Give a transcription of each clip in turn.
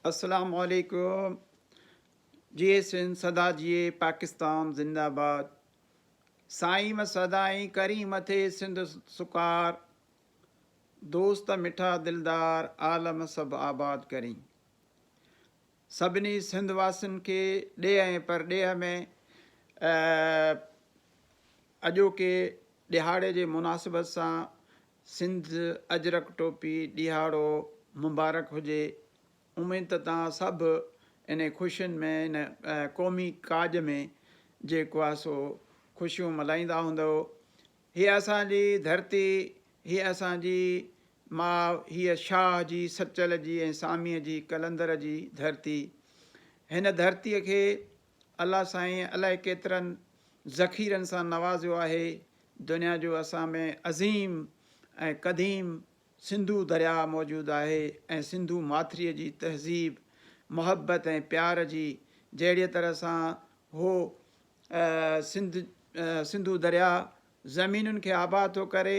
اسلام عليڪم جي سنڌ سدا جيئي پاڪستان زنده باد سائين و سدائين ڪريم ٿئي سنڌ سڪار دوست مٺا دلدار عالم سڀ آباد ڪرين سڀني سنڌ واسين کي ڏيهه ۽ پرڏيهه ۾ اڄوڪي ڏهاڙي جي مناسبت سان سنڌ اجرڪ ٽوپي ڏيهاڙو مبارڪ هجي اميد ته توهان سڀ انهي خوشين ۾ ان قومي ڪاڄ ۾ جيڪو آهي سو خوشيون ملهائيندا هوندؤ هي اسان جي ڌرتي هي اسان جي ماء هي شاهه جي سچل جي ۽ ساميء جي قلندر جي ڌرتي هن ڌرتي کي الله سائين الائي ڪيترن ذخيرن سان نوازيو آهي دنيا جو اسان ۾ عظيم ۽ قديم سنڌو درياء موجود آهي ۽ سنڌو ماٿري جي تهذيب محبت ۽ پيار جي جهڙيء طرح سان هو سنڌ سنڌو درياء زمينن کي آباد ٿو ڪري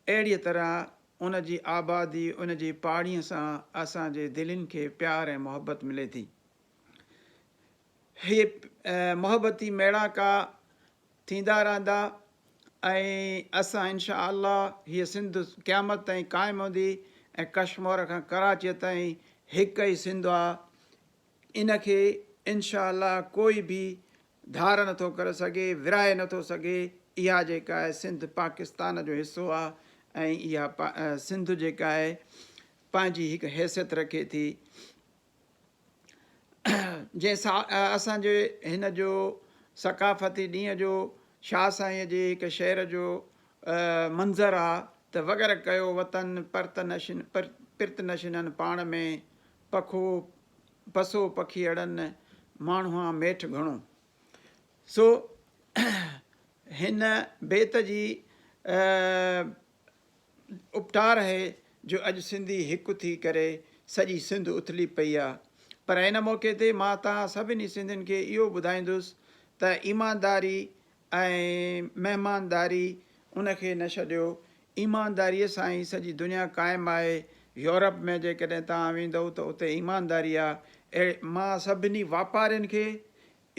اهڙيء طرح ان جي آبادي ان جي پاڻيء سان اسان جي دلين کي پيار ۽ محبت ملي ٿي. هي محبتي ميڙاڪا ٿيندا رهندا ۽ اسان انشاء الله هيء سنڌ قيامت تائين قائم هوندي ۽ ڪشمور کان ڪراچيء تائين هڪ ئي سنڌ آ ان کي انشاء الله ڪوئي به ڌار نٿو ڪري سگهي ورهائي نٿو سگهي اها جيڪا آهي سنڌ پاڪستان جو حصو آ ۽ اها سنڌ جيڪا آهي پنهنجي هڪ حيثيت رکي ٿي جنهن سا اسان جي هن جو ثقافتي ڏينهن جو شاهه سائينء جي هڪ شعر جو منظر آ ته وڳر ڪيو وطن پرت نشين پرت نشينن پاڻ ۾ پکو پسو پکيئڙن ماڻهوان ميٺ گهڻو سو هن بيت جي اپٽار اهي جو اڄ سنڌي هڪ ٿي ڪري سڄي سنڌ اٿلي پئي آ پر ان موقعي تي مان توهان سڀني سنڌين کي اهو ٻڌائيندس ته ايمانداري ۽ مهمانداري ان کي نه ڇڏيو ايمانداري سان ئي سڄي دنيا قائم آهي يورپ ۾ جيڪڏهن توهان ويندئو ته اتي ايمانداري آ اهڙي مان سڀني واپارين کي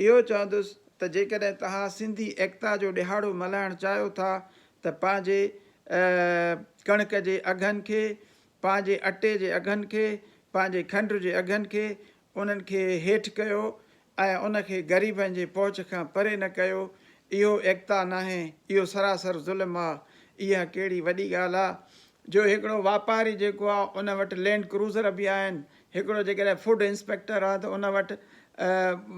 اهو چوندس ته جيڪڏهن توهان سنڌي ايڪتا جو ڏهاڙو ملهائڻ چاهيو ٿا ته پنهنجي ڪڻڪ جي اگهن کي، پنهنجي اٽي جي اگهن کي، پنهنجي کنڊ جي اگهن کي انهن کي هيٺ ڪيو ۽ ان کي غريبن جي پهچ کان پري نه ڪيو، اهو ايڪتا ناهي، اهو سراسر ظلم آ، اها ڪهڙي وڏي ڳالهه آ جو هڪڙو واپاري جيڪو آ ان وٽ لينڊ ڪروزر به آهن هڪڙو جيڪڏهن فوڊ انسپيڪٽر آ ته ان وٽ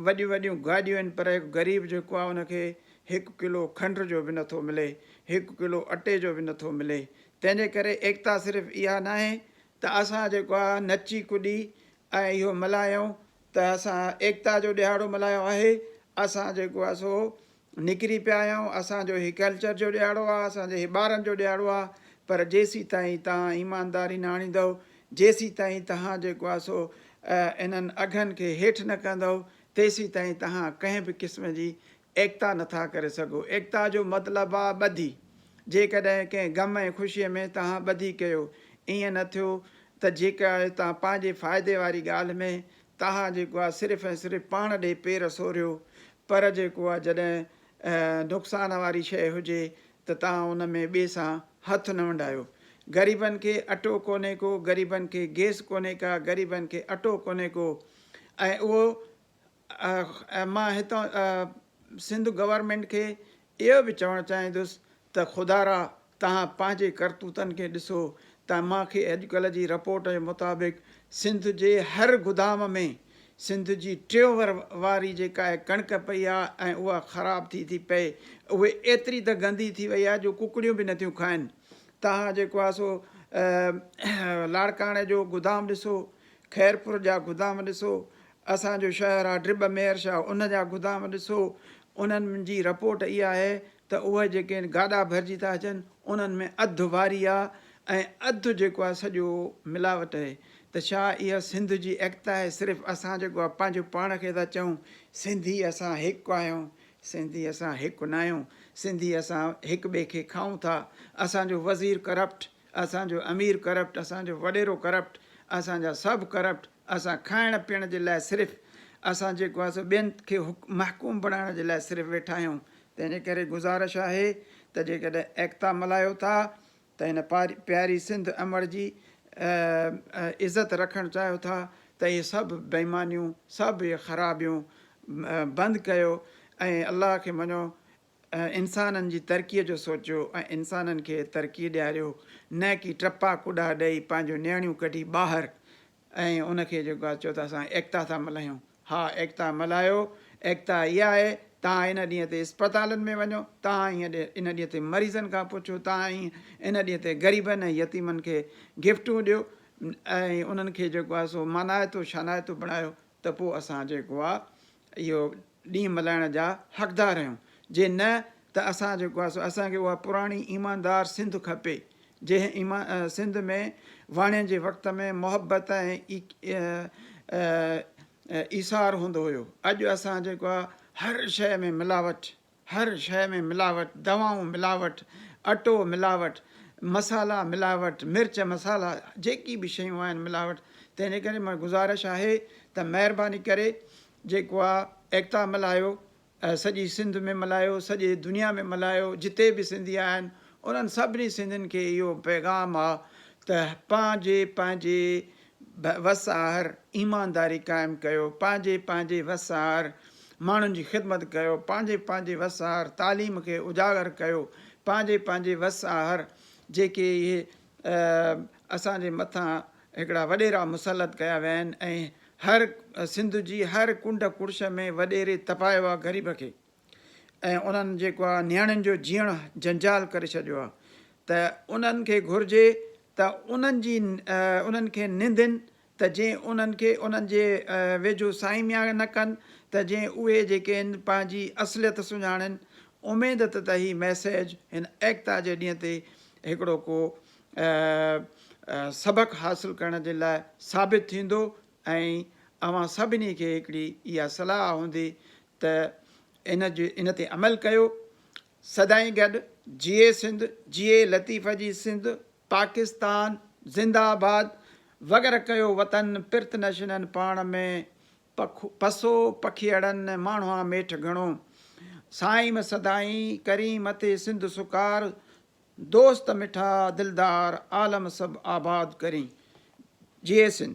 وڏيون وڏيون گاڏيون آهن پر هڪ غريب جيڪو آ ان کي هڪ ڪلو کنڊ جو به نٿو ملي هڪ ڪلو اٽي جو به نٿو ملي تنهن جي ڪري ايڪتا صرف اها ناهي ته اسان جيڪو آ نچي ڪڏي ۽ اهو ملهايون ته اسان ايڪتا جو ڏهاڙو ملهايو آهي اسان جيڪو آ سو نڪري پيا آهيون اسان جو هي ڪلچر جو ڏيهاڙو آ اسان جي هي ٻارن جو ڏيهاڙو آ پر جيسين تائين توهان ايمانداري نه آڻيندؤ جيسين تائين توهان جيڪو آ سو انهن اگهن کي هيٺ نه ڪندؤ تيسين تائين توهان ڪنهن به قسم جي ايڪتا نه ٿا ڪري سگهو ايڪتا جو مطلب آ ٻڌي جيڪڏهن ڪنهن غم ۽ خوشي ۾ توهان ٻڌي ڪيو ايئن نه ٿيو ته جيڪا توهان پنهنجي فائدي واري ڳالهه ۾ تاها جيڪو آ صرف ۽ صرف پاڻ ڏي پير سوريو پر جيڪو آ جڏهن نقصان واري شئي هجي ته تاها ان ۾ ٻي سان هٿ نه ونڊايو غريبن کي اٽو ڪونهي ڪو غريبن کي گيس ڪونهي ڪا غريبن کي اٽو ڪونهي ڪو ۽ اهو مان هتان سنڌ گورنمينٽ کي اهو به چوڻ چاهيندس ته خدارا توهان پنهنجي ڪرتوتن کي ڏسو ته مان کي اڄڪلهه جي رپورٽ جي مطابق سنڌ جي هر گدام ۾ سنڌ جي ٽيوهر واري جيڪا ڪڻڪ پئي آ ۽ اها خراب ٿي ٿي پئي اهي ايتري ته گندي ٿي وئي آ جو ڪڪڙيون به نٿيون کائن توهان جيڪو آ سو لاڙڪاڻي جو گدام ڏسو خيرپور جا گدام ڏسو اسان جو شهر آ ڊرب مير شاهه ان جا گدام ڏسو انهن جي رپورٽ اها آهي ته اهي جيڪي گاڏا ڀرجي ٿا اچن انهن ۾ اڌ واري آ ۽ اڌ جيڪو آ سڄو ملاوٽ اهي ته ڇا اها سنڌ جي ايڪتا آهي صرف اسان جيڪو آ پنهنجو پاڻ کي ٿا چئون سنڌي اسان هڪ آهيون سنڌي اسان هڪ ناهيون سنڌي اسان هڪ ٻئي کي کائون ٿا اسان جو وزير ڪرپٽ اسان جو امير ڪرپٽ، اسان جو وڏيرو ڪرپٽ، اسان جا سڀ ڪرپٽ، اسان کائڻ پيئڻ جي لاء صرف اسان جيڪو آهي سو ٻين کي محڪوم بڻائڻ جي لاء صرف ويٺا آهيون تنهن جي ڪري گذارش آهي ته جيڪڏهن ايڪتا ملهايو ٿا ته هن پياري سنڌ امڙ جي عزت رکڻ چاهيو ٿا ته اهي سڀ بيمانيون سڀ اهي خرابيون بند ڪيو ۽ الله کي مڃو انسانن جي ترقيء جو سوچيو ۽ انسانن کي ترقي ڏياريو نه ڪي ٽپا ڪوڏا ڏئي پنهنجون نيڻيون ڪڍي ٻاهر ۽ ان کي جيڪو آهي چئو ته اسان ايڪتا ٿا ملهايون. ها ايڪتا ملهايو، ايڪتا اها آهي توهان ان ڏينهن تي اسپتالن ۾ وڃو، توهان ان ڏينهن تي مريضن کان پڇو، توهان ان ڏينهن تي غريبن ۽ يتيمن کي گفٽون ڏيو ۽ انهن کي جيڪو آهي سو مانائتو شانائتو بڻايو، ته پوء اسان جيڪو آ اهو ڏينهن ملهائڻ جا حقدار آهيون جي نه ته اسان جيڪو آ سو اسان کي اها پراڻي ايماندار سنڌ کپي جنهن ايمان سنڌ ۾ واڻين جي وقت ۾ محبت ۽ ايثار هوندو هيو اڄ اسان جيڪو آ هر شئي ۾ ملاوٽ هر شيء ۾ ملاوٽ، دوائون ملاوٽ، اٽو ملاوٽ، مصالحا ملاوٽ، مرچ مصالحا جيڪي به شيون آهن ملاوٽ، تنهنجي ڪري مگر گذارش آهي ته مهرباني ڪري جيڪو آ ايڪتا ملهايو، سڄي سنڌ ۾ ملهايو، سڄي دنيا ۾ ملهايو، جتي به سنڌي آهن انهن سڀني سنڌين کي اهو پيغام آ ته پنهنجي پنهنجي وساهر، ايمانداري قائم ڪيو، پنهنجي پنهنجي وساهر، ماڻهن جي خدمت ڪيو، پنهنجي پنهنجي وساهر، تعليم کي اجاگر ڪيو، پنهنجي پنهنجي وساهر، جيڪي اهي اسان جي مٿان هڪڙا وڏيرا مسلط ڪيا ويا آهن ۽ هر سنڌ جي هر ڪنڊ ڪڙڇ ۾ وڏيري تپايو آهي غريب کي. ۽ انهن جيڪو آهي نياڻين جو جيئڻ جنجال ڪري ڇڏيو آهي ته انهن کي گهرجي ته انهن جي انهن کي نندين ته جي انهن کي انهن جي ويجهو سائين ميان نه ڪن ته جي اهي جيڪي آهن پنهنجي اصليت سڃاڻين اميد ته ته هي ميسيج هن ايڪتا جي ڏينهن تي هڪڙو ڪو سبق حاصل ڪرڻ جي لاء ثابت ٿيندو ۽ اوهان سڀني کي هڪڙي اها صلاح هوندي ته ان ان تي عمل ڪيو سدائين گڏ جيئي سنڌ جيئي لطيف جي سنڌ پاڪستان زنده آباد وغيره ڪيو وطن پرت نشينن پاڻ ۾ پسو پکيئڙن ماڻهوان ميٺ گهڻو سائيم سدائين ڪرين مٿي سنڌ سڪار دوست مٺا دلدار عالم سڀ آباد ڪرين جيئي سنڌ.